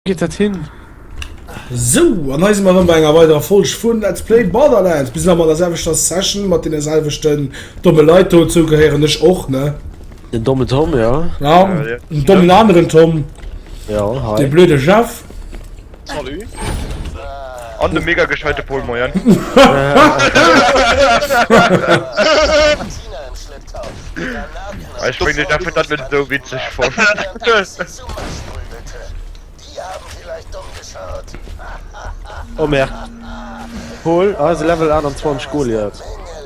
Geet dat hin? So, an eise mat enger weiderer Folsch vun Let's Play Borderlands bis mat der selwechter Session mat den selwechten domme Leiit do zou gehéieren ech och ne Den domme Tom ja, ja den dommen anderen Tom ja, de blöde Chef Salut. An de mega gescheite Pol, moien. Ech meng dach dat net esou witzeg fonnt. Oh merde. Pol, eise Level 28 Goliath.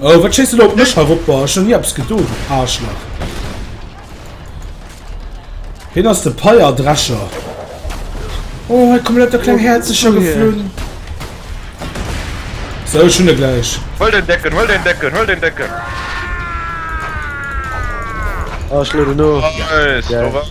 Oh, wat schéisst du da op mech herop? Ech hun ni eppes gedo, du Aarschlach. Heen ass de Peierdrescher. Oh, hei kommen lauter kleng Häerzecher geflunn. So, ech hun e gläich. Huel den Decken, huel den Decken, huel den Decken. Oh, ech lueden no. Nice, do war's.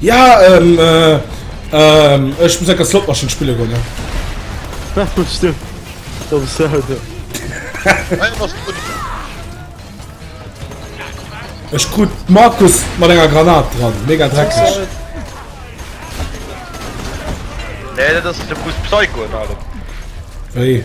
Ja, ähm, äh, ähm, ech muss enker Slotmaschinn spille goen, ne? Ja, das stimmt. Das ist sehr hart, ja. Ech krut Markus mat enger Granat dran, mega dreckig. Nee, dat ass de Fuß Psycho an allem. Wéi?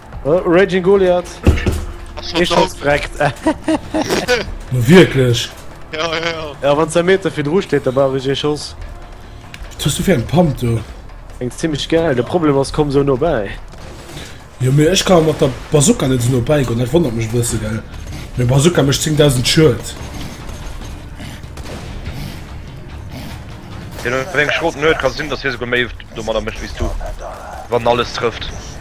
Oh, Raging Goliath! Ech schotz dreckt! No wierklech? Ja, ja, ja. Ja, wann se Meter fir dru steet, da brauch ech ee Schoss. Wat hues du fir eng Pump do? Eng zimmlech gäil, de Problem ass, komm sou no bäi. Jo, mee ech ka mat der Bazooka net sou no bäi goen, dat wonnert mech e bësse, gell? Meng Bazooka mécht 10.000 Schued. Deen huet eng Schrot, net? Ka sinn, datt hie souguer méi domadder mécht wéi s du, wann alles trëfft.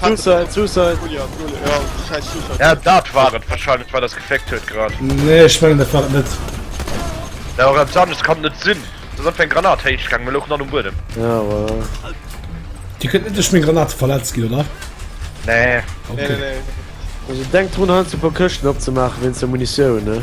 Suicide, Suicide. Ja, dat war et wahrscheinlich, war das gefeckt huet grad. Nee, ich mein, dat war net. Ja, aber etwas anderes kann net sinn. Das hat eng Granat héich gang, mir louchen an um Buedem. Ja, aber... Dir könnt net duerch meng Granate verletzt ginn, oder? Nee. Okay. Nee, nee, nee. Also denk drun, heiansdo e puer Këschten opzemaachen, wéinst der Munitioun, ne?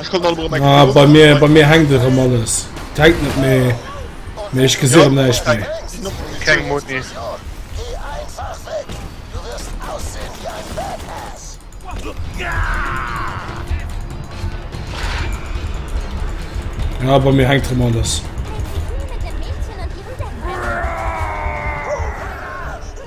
Ech konnt alleguer meng Ah, bei mir, bei mir hänkt erëm alles. Et hänkt net méi, mee ech gesi erëm näischt méi. Keng Muni. Ja, bei mir hänkt erëm alles.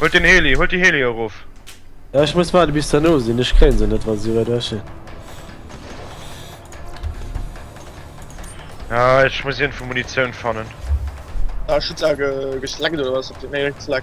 Huelt den Heli, huelt die Heli erof. Ja, ich muss warten bis der no sinn, ich kréien se net, wann sie weit weg sinn. Ja, ich muss irgendwo Munition fannen. Ah, Schutzange geschleckt oder was? Op den Erik Fleck.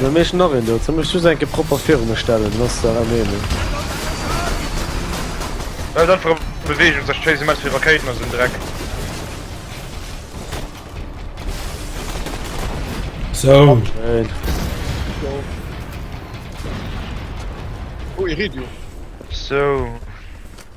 Mir méchen nach een do, soll mech just enke propper viru mech stellen, dann ass der erëm een. Baut einfach op Beweegung, sech d'Face immens vill Rakéiten a sou en Dreck. Sou. Schéin. Oh, Iridium. Sou.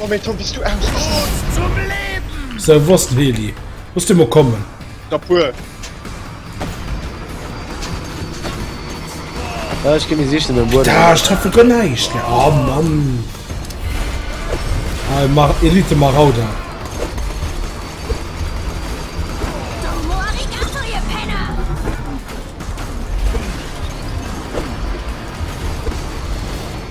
Oh méi Tom bis du aus Se wosst Weli muss du mo kommen Da puer Ech gi mir sichten den Bur treffe gënn neicht Oh Mann Ei mar Elite Marauder.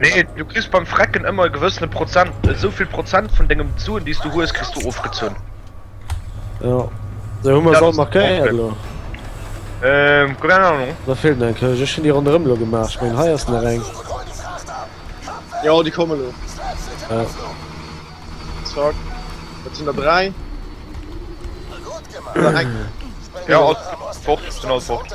Nee, du kriss beim Frecken ëmmer e gewëssene Prozent, esou vill Prozent vun dengem Suen, déi s du hues, kriss du ofgezunn. Ja. Da hu mer se all markéiert elo. Ähm, keine Ahnung. Da fehlt eng Kölsch. Ech hun déi ronderëm lo gemaach. Ich mein, hei ass nach eng. Ja, déi komme lo. Ja. Zack. Dat sinn der dräi. Ja, fort, fort.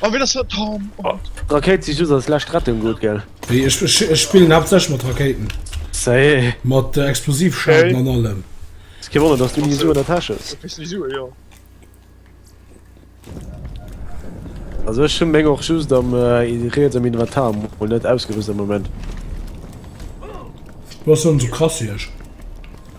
Oh, wie das hat Tom. Oh. Rakéit si just als lescht Rettung gut, gell? Wéi, ech, ech, ech spillen haaptsächlech mat Rakéiten. Sei. Mat äh, Explosivschaden okay. an allem. Es kann wundern, dass du nie so in der Tasche hast. Du kriegst nie so, ja. Also ich hun meng och just am äh, Reets am Inventar und net ausgerüst am Moment. Was so krass hier?